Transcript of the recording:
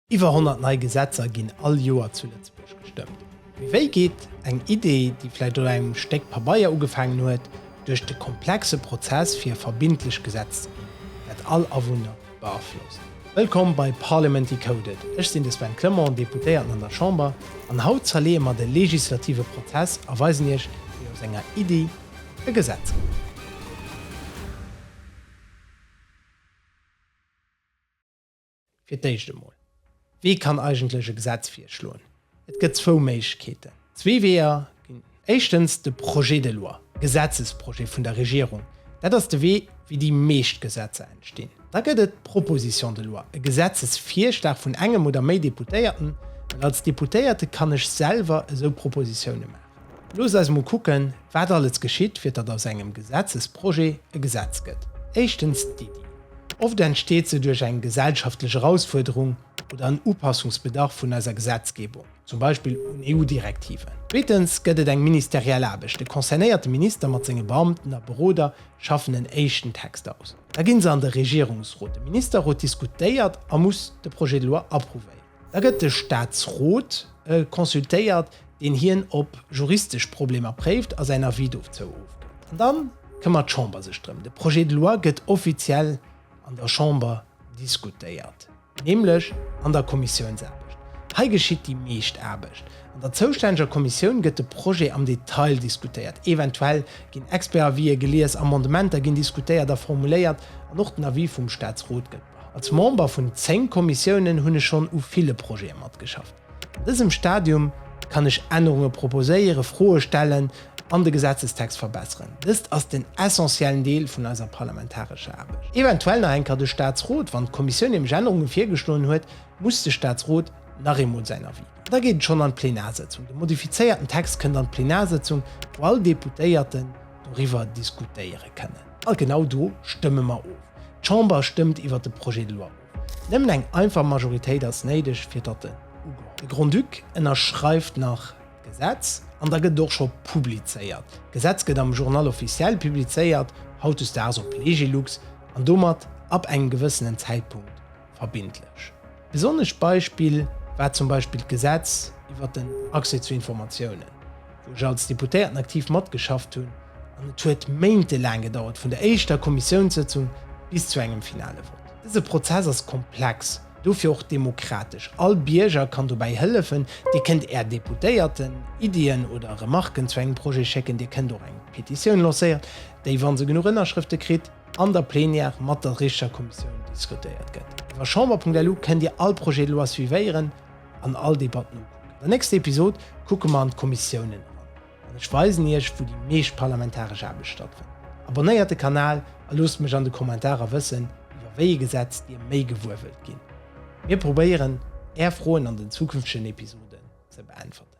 Iwwer 100 nei Gesetzer ginn all Joer zu Lëtzebuerg gestëmmt. Mee wéi geet eng Idee, déi vläicht un engem Stéck Pabeier ugefaangen huet, duerch de komplexe Prozess fir e verbindlech Gesetz ze ginn, dat all Awunner beaflosst? Wëllkomm bei Parliament Decoded, ech sinn de Sven Clement, Deputéierten an der Chamber, an haut zerleeë mer de legislative Prozess a weisen Iech, wéi aus enger Iddi e Gesetz gëtt. Fir d'éischt emol, Wie kann eigentlech e Gesetz virschloen? Et gëtt zwou Méiglechkeeten, zwee Weeër ginn. Éischtens de Projet de loi, Gesetzesprojet vun der Regierung. Dat ass de Wee, wéi déi meescht Gesetzer entstinn. Da gëtt et d'Proposition de loi, e Gesetzesvirschlag vun engem oder méi Deputéierten, well als Deputéierte kann ech selwer esou Propositiounen maachen. Loosst eis emol kucken, wat alles geschitt, fir datt aus engem Gesetzesprojet e Gesetz gëtt. Éischtens d'Iddi. Oft entsteet se duerch eng gesellschaftlech Erausfuerderung oder en Upassungsbedarf vun eiser Gesetzgebung, zum Beispill un EU-Direktiven. Zweetens gëtt et eng ministeriell Aarbecht. De concernéierte Minister mat senge Beamten a Beroder schaffen en éischten Text aus. Da gi se an de Regierungsrot. De Ministerrot diskutéiert a muss de Projet de loi approuvéieren. Da gëtt de Staatsrot consultéiert, deen hien op juristesch Problemer préift a säin Avis dozou ofgëtt. An da këmmert d'Chamber sech drëm. De Projet de loi gëtt offiziell an der Chamber diskutéiert, nämlech an der Kommissiounsaarbecht. Hei geschitt déi meescht Aarbecht. An der zoustänneger Kommissioun gëtt de Projet am Detail diskutéiert. Eventuell ginn Expert-Avisë gelies, Amendementer ginn diskutéiert a formuléiert an och den Avis vum Staatsrot gëtt. Als Member vun 10 Kommissiounen hunn ech schonn u ville Projete matgeschafft. An dësem Stadium kann ech Ännerunge proposéiere, Froe stellen an de Gesetzestext verbesseren. Dëst ass den essentiellen Deel vun eiser parlamentarescher Aarbecht. Eventuell nach eng Kéier de Staatsrot. Wann d'Kommissioun nämlech Ännerunge virgeschloen huet, muss de Staatsrot nach eemol säin Avis ginn. Da geet et schonn an d'Plenarsëtzung. De modifizéierten Text kënnt an d'Plenarsëtzung, wou all Deputéierten, doriwwer diskutéiere kënnen. A genau do stëmme mer of. D'Chamber stëmmt iwwert de Projet de loi of. Nëmmen eng einfach Majoritéit ass néideg, fir datt en ugeholl gëtt. De Grand-Duc ënnerschreift nach d'Gesetz an da gëtt et och scho publizéiert. D'Gesetz gëtt am Journal officiel publizéiert, hautdesdaags op Legilux, an domat ab engem gewëssenen Zäitpunkt verbindlech. Besonnescht Beispill war zum Beispill d'Gesetz iwwert den Accès zu Informatiounen, wou ech als Deputéierten aktiv matgeschafft hunn, an et huet méintelaang gedauert vun der éischter Kommissiounssëtzung bis zu engem finale Vott. Dëse Prozess ass komplex, dofir och demokratesch. All Bierger kann dobäi hëllefen, Dir kënnt Är Deputéierten Iddien oder Remarken zu engem Projet schécken, Dir kënnt och eng Petitioun lancéieren, déi, wa se genuch Ënnerschrëfte kritt, an der Plenière mat der richtger Kommissioun diskutéiert gëtt. Iwwer Chamber.lu kënnt Dir all Projet de loi suivéieren an all Debatt nokucken. An der nächster Episod kucke mer an d'Kommissiounen eran an ech weisen Iech, wou déi meescht parlamentaresch Aarbecht stattfënnt. Abonnéiert de Kanal a loosst mech an de Kommentarer wëssen, iwwer wéi ee Gesetz Dir méi gewuer wëllt ginn. Mir probéieren, Är Froen an den zukünftegen Episoden ze beäntwerten.